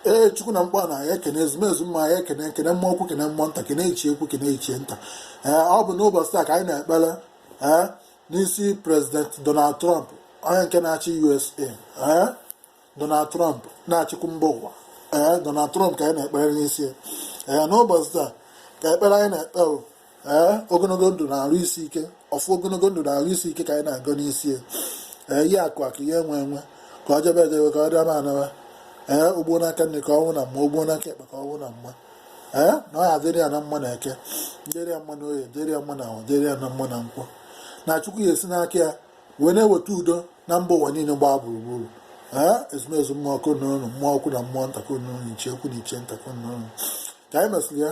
ee chukwu na mgba na ekene ezumezu mmụọ anyị ekene ekene mmụọ ukwu kene mmụọ nta kene ichie ukwu kene ichie nta ee ọ bụ n'ụbọchị taa ka anyị na-ekpere ee n'isi prezident donald trump onye nke na-achị usa ee donald trump na-achịkwu mba ụwa ee donald trump ka anyị na-ekpere n'isi ee n'ụbọchị taa ka ekpere anyị na-ekpe ee ogologo ndụ na arụ isi ike ọfọ ogologo ndụ na arụ isi ike ka anyị na-agọ n'isi ya ee ihe akụ akụ ihe enwe enwe ka ọ jebe ejebe ka ọ dịama anawa ee ugbo n'aka nri ka ọ nọ na mma ugbo n'aka ekpe ka ọ nọ na mma ee na ọ ya-adịrị ya na mma na eke dịrị ya mma na oye dịrị ya mma na afọ dịrị ya na mma na nkwọ na chukwu ya-esi n'aka ya wee na-eweta udo na mba ụwa niile gbaa gburugburu ee ezumezu mmụọ ka unu nọ mmụọ ukwu na mmụọ nta ka unu nọ ichie ukwu na ichie nta ka unu nọ ka anyị mesịrị ya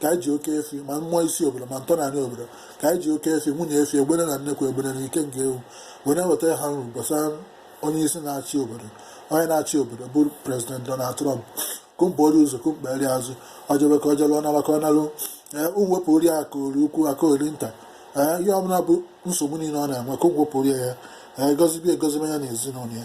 ka anyị ji oke efi ma mmụọ isi obodo ma ntọnanị obodo ka anyị ji oke efi nwunye efi egbele na nnekwu ebule na ike nke ewu wee na-eweta ha nru gbasara onye isi na-achị obodo onye na-achị obodo bụ prezident Donald Trump ka unu buru ya ụzọ ka unu kpere ya azụ o jebe ka o jelu ọ naba ka ọ nalụ ee wepụrụ ya aka ori ukwu aka ori nta ee ihe ọbụla bụ nsogbu niile ọ na-enwe ka unu wepụrụ ya ee gozibe egozibe ya na ezinụlọ ya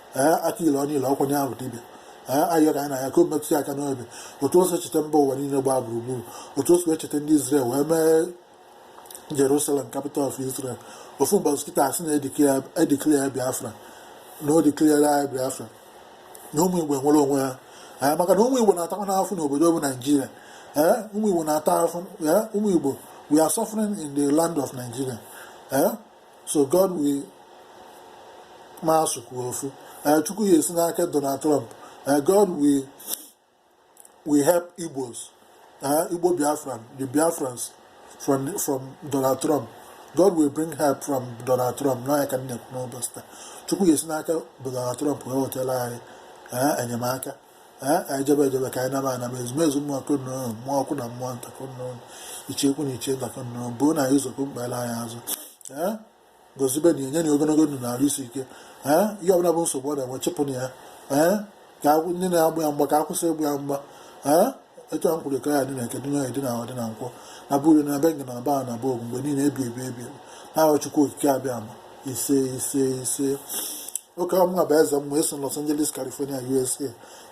ee aka ile ọnụ ile ọkwa nye ahụ dibịa ee ayịyọ ka anyị na-ayọ ka o metụ ya aka n'obi otu o si cheta mba ụwa niile gbaa gburugburu otu o si cheta ndị Israel wee mee Jerusalem capital of Israel ofu mbọchị kịta a sị na e declare ya Biafra na o declarere anyị Biafra na ụmụ Igbo nwere onwe ha ee maka na ụmụ Igbo na-atakwanụ afụfụ n'obodo bụ Naijiria ee ụmụ Igbo na-ata afụfụ ee ụmụ Igbo we are suffering in the land of Nigeria ee so God will ma asụ kwuo ofu eh, chukwu ya-esi n'aka Donald Trump eh, God will help Igbos eh, Igbo Biafran the Biafrans from from Donald Trump God will bring help from Donald Trump na ya ka anyị na-ekwu n'ụbọchị taa chukwu ya-esi n'aka Donald Trump wee wetara anyị enyemaka anyị jebe ejebe ka anyị naba anaba ezumezu mmụọ ka unu nọ mmụọ ukwu na mmụọ nta ka unu nọ ichie ukwu na ichie nta ka unu buru anyị ụzọ ka unu kpere anyị azụ gozibenụ ya nyenụ ya ogologo ndụ na arụ isi ike ee ihe ọbụla bụ nsogbu ọ na-enwe chụpụnụ ya ee ka ndị na-agba ya mgba ka ha kwụsị ịgba ya mgba ee etu a m kwuru ka ọ ya-adị na eke dị n'oye dị na afọ dị na nkwọ na-abụrụ na be na ba na-abụ mgbe niile ebi ebi ebi n'aha chukwu okike abịama ise ise ise oke ọ mụnwa bụ eze mmụọ esi Los Angeles California USA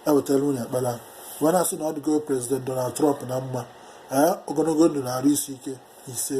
ewetara unu ekpere a wee na-asị na ọ dịgo prezident Donald Trump na mma ee ogologo ndụ na arụ isi ike ise